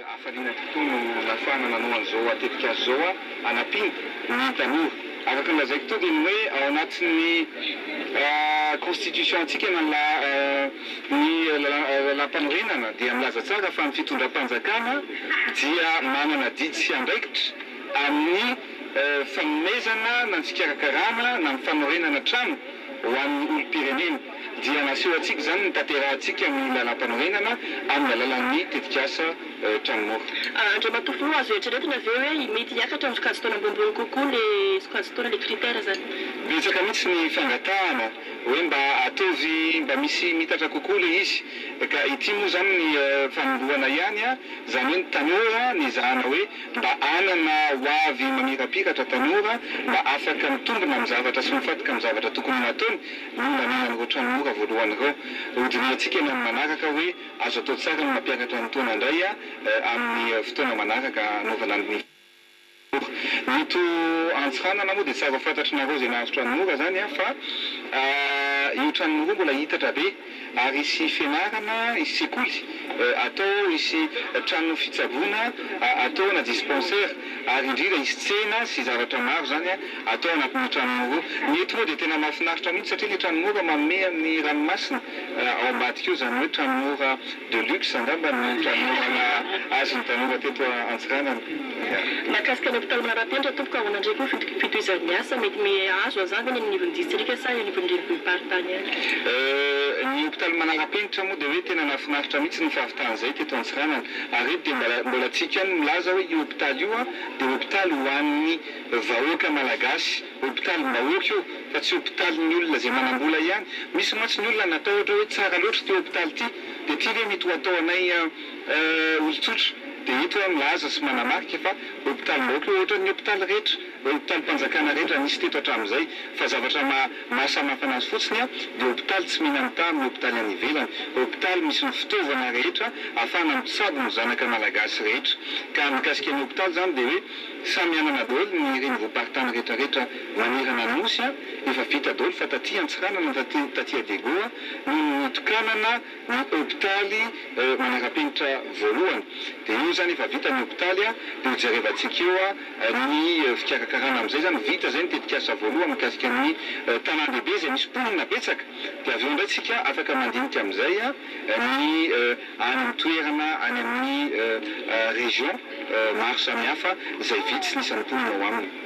Hafaliana tokoa no nahafahana nanao an'izao tetikasa izao hanampiana ny tanora. Araka ny lazaiko teo dia ny hoe ao anatin'ny constitution antsika na ny laha. Ny Lalàmpanorenana dia milaza tsara fa ny fitondram-panjakana dia manana didy sy andraikitra amin'ny fanomezana na ny fikarakarana na ny fanorenana trano ho an'ny olom-pirenena. Dia naseho antsika izany ny tanterahantsika ny Lalàmpanorenana amin'ny alalan'ny tetikasa Trano Mora. Andriamatoa Filoha, azo eritreretina ve hoe mety hiakatra amin'ny sokajin-taona ambonimbony kokoa ilay sokajin-taona, ilay critère izany? Betsaka mihitsy ny fangatahana hoe mba ataovy mba misy mitatra kokoa ilay izy, ka ity moa izany ny fanombohana ihany an, izany hoe ny tanora nezahana hoe mba hanana ho avy mamirapiratra tanora mba afaka mitombina amin'ny zavatra sy mifantoka amin'ny zavatra tokony ho nataony no nanana an'ireo tranomora voalohany ireo. Hodinihantsika eny amin'ny manaraka hoe azo atao tsara ny mampiakatra ny taona indray amin'ny fotoana manaraka hanaovana ny. Ito Antsiranana moa dia tsy afa fantatry nareo izay nahazo tranora zany an, fa io tranony roa mbola hitatra be ary hisy fianarana, hisy sekoly atao, hisy trano fitsaboana atao na dispensaire ary indrindra hisy tsena sy zavatra maro zany an atao anatin'ny tranony roa. Ny eto moa dia tena mahafinaritra mihitsy satria ny tranon'ora manome amin'ny ranomasina ao ambadika eo izany hoe tranon'ora. De luxe angamba ny fanomezana azy ny tanora teto Antsiranana. Ya. Mahakasika ny hopitaly Manarapenitra tompoko ahoana ndray koa ny fitohizan'ny asa? Mety azo hazava ve ny any anivon'ny distrika sa eo anivon'ny renivohi-paritany ihany? Euh, ny hopitaly Manarapenitra moa dia hoe tena nahafinaritra mihitsy ny fahavitany izay teto Antsiranana. Ary eto dia mba mbola tsy iko ihany ny milaza hoe io hopitaly io an, dia hopitaly ho an'ny vahoaka Malagasy. Hopitalim-bahoaka io fa tsy hopitalin'ny olona izay manam-bola ihany. Misy mantsy ny olona natahotra hoe tsara loatra ity hopitaly ity, dia ity ve mety ho atao anay olon-tsotra? Dia eto aho milaza sy manamarika fa hopitalim-bahoaka io ohatran'ny hopitaly rehetra, hopitalim-panjakana rehetra nisy teto hatramin'izay. Fa zavatra maha-samihafa anazy fotsiny dia hopitaly tsy mihinam-taha amin'ny hopitaly any ivelany. Hopitaly misy ny fitaovana rehetra ahafahana mitsabo ny zanaka malagasy rehetra. Ka mikasika ny hopitaly izany dia hoe. Samy anana daholo ny renivohim-paritany retraretra manerana nosy a! Efa vita daholo fa taty Antsiranana taty taty Adego a no nitokanana ny hopitaly manarapenitra voalohany. Dia io zany efa vita ny hopitaly a! Dia ho jerevantsika eo a ny fikarakarana amin'izay zany vita zay ny tetikasa voalohany mikasika ny tanàn-dehibe izay misy mponina betsaka. Dia avy eo indray tsika afaka mandinika amin'izay a! ny any an-toerana, any amin'ny région maro samihafa izay vitsy ny isan'ny mponina ao aminy.